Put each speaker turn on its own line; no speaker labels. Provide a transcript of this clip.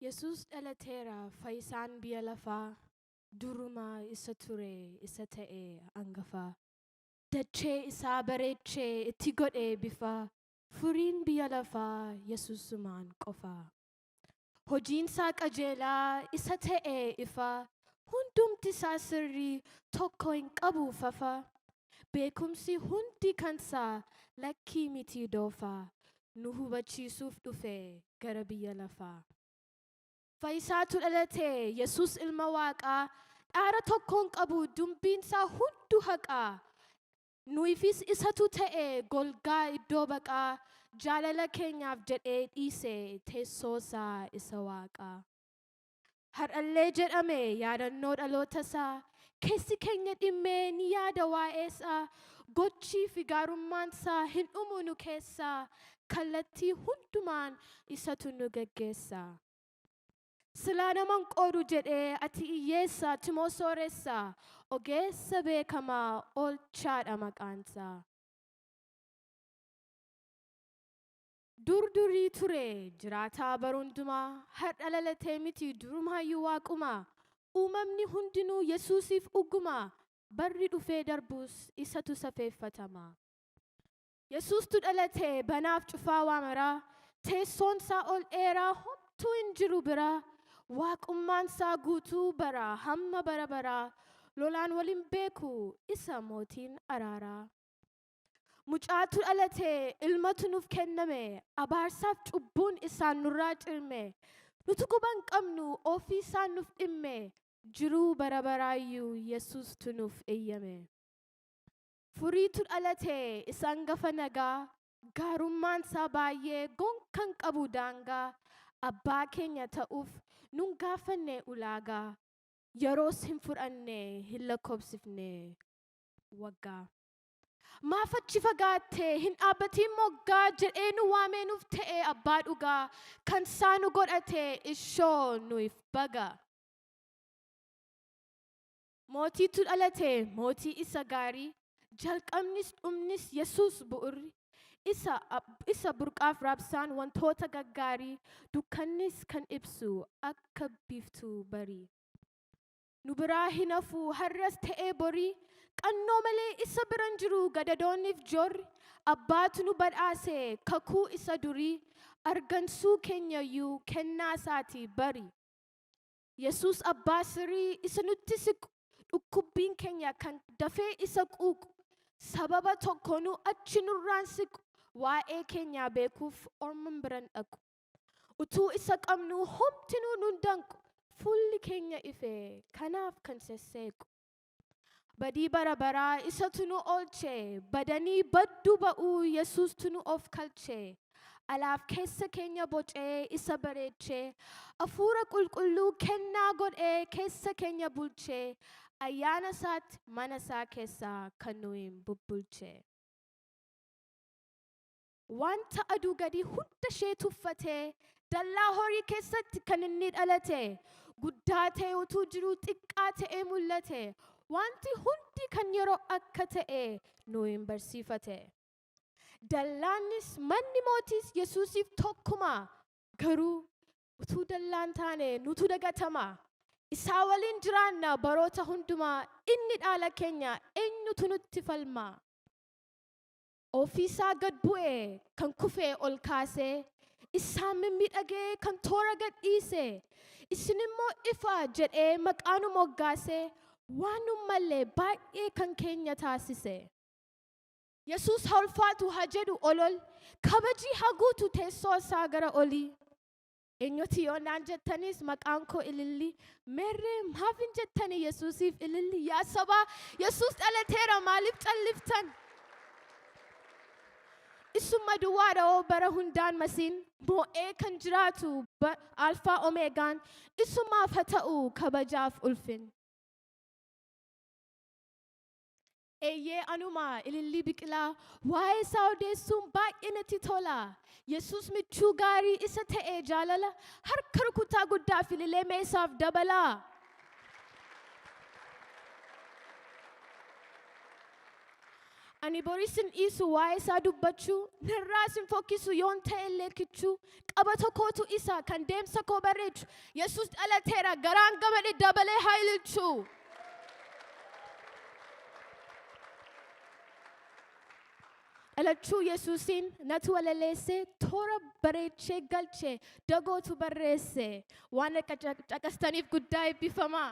Yesuus dhalateera fayisaan biya lafaa Durumaa isa ture isa ta'e angafaa Dachee isaa bareeche itti godhe bifaa Furiin biya lafaa Yesuusumaan qofaa Hojiinsaa qajeelaa isa ta'e ifaa Hundumtisaa sirrii tokko hin qabu fafaa Beekumsi hundi kansaa lakkii mitii doofaa Nu hubachiisuuf dhufe gara biyya lafaa. Fayisaatu dhalate Yesuus ilma Waaqaa Dhaara tokkoon qabu dumbiinsaa hundu haqaa Nuyifiis isatu ta'e golgaa iddoo baqaa Jaalala keenyaaf jedhee dhiise teessoosaa isa Waaqaa. Har'allee jedhame yaadannoo dhalootasaa, keessi keenya dhimmee ni yaada waa'eesaa, gochii fi gaarummaansaa hin dhumu nu keessaa, kallattii hundumaan isatu nu geggeessa. Silaa naman qoodu jedhee ati iyyeessa, timoo sooressa, ogeessa beekamaa, oolchaadha maqaansaa. Dur durii ture jiraataa bara hundumaa har'a lalatee miti durumaayyuu waaquma uumamni hundinuu Yesuusiif ugguma barri dhufee darbuus isatu safeeffatama. Yesuustu dhalate banaaf cufaa waa maraa teessoon isaa ol dheeraa homtuu hin jiru bira waaqummaan isaa guutuu bara hamma bara baraa lolaan wal hin beeku isa mootiin araaraa. Mucaatu dhalate, ilmatu nuuf kenname, abaarsaaf cubbuun isaan nurraa cirme. Nutu guban qabnu ofii isaan nuuf dhimme, jiruu bara baraayyuu Yesuustu nuuf eeyyame. Furiitu dhalate, isa hangafa nagaa, gaarummaan isaa baay'ee gonkan qabu daangaa. Abbaa keenya ta'uuf nun gaafanne ulaagaa, yeroos hin fudhanne hin lakkoobsifne waggaa. Maaf achi fagaatte hin dhaabbatiin moggaa jedhee nu waamee nuuf ta'e abbaa dhugaa kan isaa nu godhate ishoo nuuf baga. Mootiitu dhalate mootii isa gaarii jalqabnis dhumnis Yesuus bu'urri isa, isa burqaaf raabsaan wantoota gaggaarii dukkannis kan ibsu akka biiftuu barii. Nu biraa hin hafu har'as ta'ee borii, Qannoo malee isa bira hin jiru gadadoonniif joorri, Abbaatu nu badhaase kakuu isa durii, Argansuu keenyayyuu kennaa isaati bari. Yesuus abbaa sirii isa nutti siqu, Dhukkubbiin keenya kan dafee isa quuqu, Sababa tokkoonuu achi nurraan siqu, Waa'ee keenyaa beekuuf orman bira hin dhaqu. Utuu isa qabnuu homtinuu nun danqu. Fuulli keenya ifee kanaaf kan sesseequ. Badii bara baraa isatu nu oolche. Badanii badduu ba'uu Yesuustu nu of kalche. Alaaf keessa keenya bocee isa bareeche. Hafuura qulqulluu kennaa godhee keessa keenya bulche. Ayyaana isaatti mana isaa keessaa kan nuyiin bubbulche. Wanta aduu gadii hunda ishee tuffatee, dallaa horii keessatti kan inni dhalate, guddaa ta'ee utuu jiruu xiqqaa ta'ee mul'ate. Wanti hundi kan yeroo akka ta'e nu hin barsiifate. Dallaannis manni mootiis Yesuusiif tokkuma, garuu utuu dallaan taane nutu dagatama. Isaa waliin jiraanna baroota hundumaa inni dhaala keenya eenyutu nutti falma? Ofiisaa gad bu'e kan kufe ol kaase, isaan mimmiidhagee kan toora gad dhiise, isin immoo ifa jedhee maqaa nu moggaase, waan nu malle baay'ee kan keenya taasise. Yesuus haa ulfaatu haa jedhu olol, kabajii haa guutu teessoo isaa gara olii. Eenyuti yoo naan jettanis maqaan koo ililli. Merree maaf hin jettani Yesuusiif ililli. Yaa sabaa Yesuus dhalateera maaliif calliftan? Isumma duwwaadha oo bara hundaan masiin moo'ee kan jiraatu ba- alfaa omeegaan isumaaf haa ta'u kabajaaf ulfin. Eeyyee anuma ilillii biqilaa waa'ee isaa odeessuun baay'ee natti tola. Yesuus michuu gaarii isa ta'e jaalala harka rukuttaa guddaa fi ililee mee isaaf dabalaa. Ani boris hin dhiisu waa'ee isaa dubbachuu narraas hin fokkisu yoon ta'e illee kichuu Qabata kootu isa kan deemsa koo bareechu. Yesus dhalateera garaan gamade dabalee haa ililchu. Dhalachuu Yesuusiin natu walaleesse toora bareechee galche dagootu barreesse waan akka caqastaniif guddaa eebbifamaa.